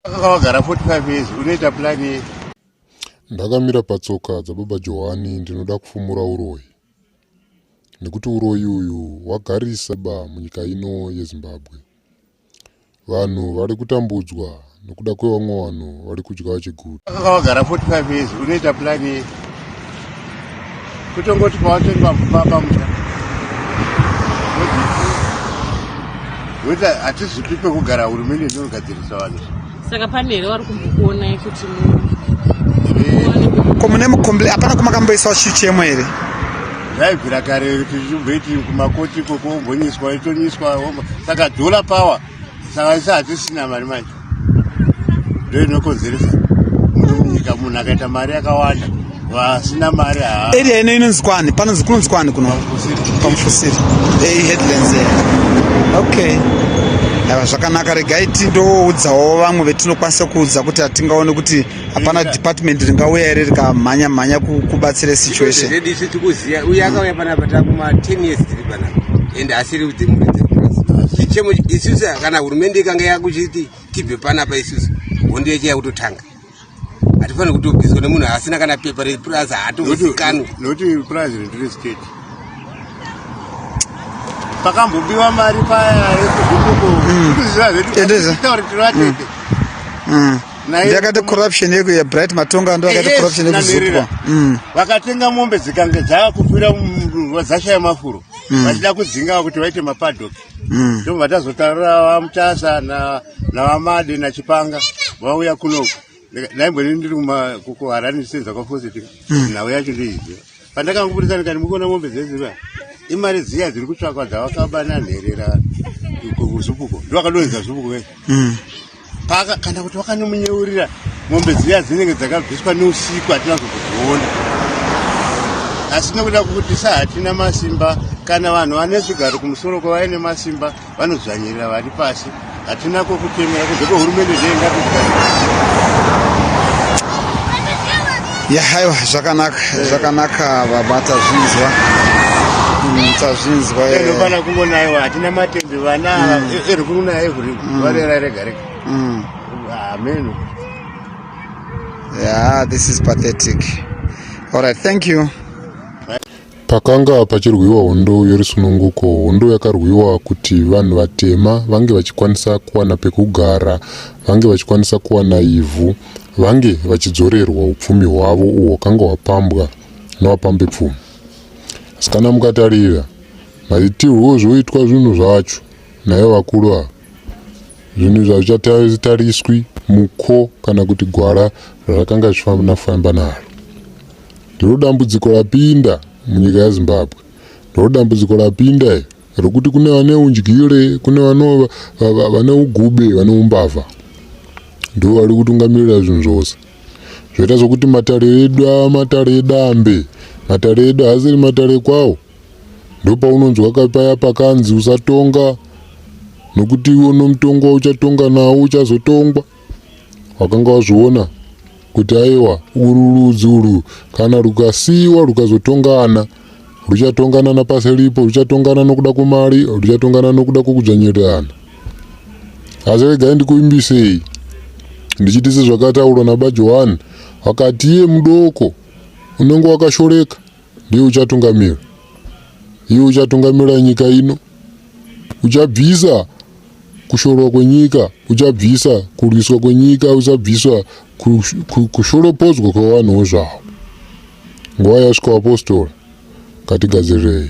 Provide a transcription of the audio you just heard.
Akawagara 45 years unoita plan ye. Ndakamira patsoka dzababa Johani ndinoda kufumura uroyi. Nekuti uroyi uyu wagarisa ba munyika ino yeZimbabwe. Vanhu vari kutambudzwa nokuda kwevamwe vanhu vari kudya vachiguta. Akawagara 45 years unoita plan ye. kutongoti pawatengwa mupapa musha weta hatizvipi pekugara hurumende inogadzirisa vanhu saka pane here vari kumbokuonai kuti ko mune mukomble hapana kumakamboisawo chichemo here yaibvira kare tichibveti kumakoti ikoko wombonyiswa itonyiswa saka dhola power saka isi hatisina mari manje ndo inokonzeresa muno munyika munhu akaita mari yakawanda vasina mari area ino inonzi kwani panonzi kunonzi kwani kuno pamufusiri ei headlands okay ava zvakanaka regai tindoudzawo vamwe vetinokwanisa kuudza kuti hatingaone kuti hapana department ringauya here rikamhanya mhanya kubatsira situation zvedu isu tikuziva uye akauya panapa takuma 10 years tiri panapa and asiri kudzimuridza chichemo isusu kana hurumende ikanga yakuchiti tibve panapa isusu hondo yechiya kutotanga hatifanire kutobviswa nemunhu asina kana pepa repurazi haatozikanwi noti purazi rindiri state pakambobiwa mari paya yekuzvikukuendezatauritiratete ndakati corruption yeku ya bright matonga ndo akati corruption yeku zupwa mm. vakatenga mombe dzikange dzakufira vazashaya mafuro mm. vachida kudzinga kuti vaite mapadok mm. ndo vatazotaura vamutasa na navamade na chipanga vauya kunoku naimboni ndiri kuharani senzakafosetika nhau yacho ndeiziva Pandakangoburitsa ndikati mukuona mombe dzeziva imari dziya dziri kutsvakwa dzavakabana nherera kuzupuko ndovakadonhedza zupuko vese hmm. paka kana kuti vakanomunyeurira mombe dziya dzinenge dzakabviswa neusiku hatina zokudziona asi nokuda kukutisa hatina masimba kana vanhu vane zvigaro kumusoro kwavaine masimba vanodzvanyirira vari pasi hatina kwokutemera kunze kwehurumende yahaiwa zvakanaka zvakanaka baba tazvinzwa mm, tazvinzwa anofana eh. kungonaiwa hatina matembe vana mm. eh, eri kunaya ehuri mm. varera rega rega ameno yeah this is pathetic all right thank you Pakanga pachirwiwa hondo yorusununguko, hondo yakarwiwa kuti vanhu vatema vange vachikwanisa kuwana pekugara, vange vachikwanisa kuwana ivhu, vange vachidzorerwa upfumi hwavo uhwo hwakanga hwapambwa navapambepfumi. Asi kana mukatarira maitirwo ozvoitwa zvinhu zvacho naivo vakuru ava, zvinhu izvi hazvichatariswi muko kana kuti gwara razvakanga zvichifamba naro. Ndiro dambudziko rapinda munyika yeZimbabwe. Ndiro dambudziko rapinda iri rokuti kune vane undyire, kune vane ugube, vane umbavha. Ndivo vari kutungamirira zvinhu zvose. Zvoita sokuti matare edu ava matare edambe. Matare edu haasiri matare kwawo. Ndopaunonzwa paya pakanzi usatonga nokuti iwe unomutonga uchatonga nawo uchazotongwa. wakanga wazviona kuti aiwa uru ludzi urwu kana rukasiyiwa rukazotongana ruchatongana napasi ripo ruchatongana nokuda kwemari ruchatongana nokuda kwokudzvanyirirana asi regai ndikuvimbisei ndichiti sezvakataurwa nabajohani vakati iye mudoko unenge wakashoreka Ndiye uchatungamira. Iye uchatungamira nyika ino. Uchabvisa kushorwa kwenyika, uchabvisa kurwiswa kwenyika, uchabvisa kushoropodzwa kwevanhuwo zvavo. Nguva yasvika vapostora, ngatigadzirirei.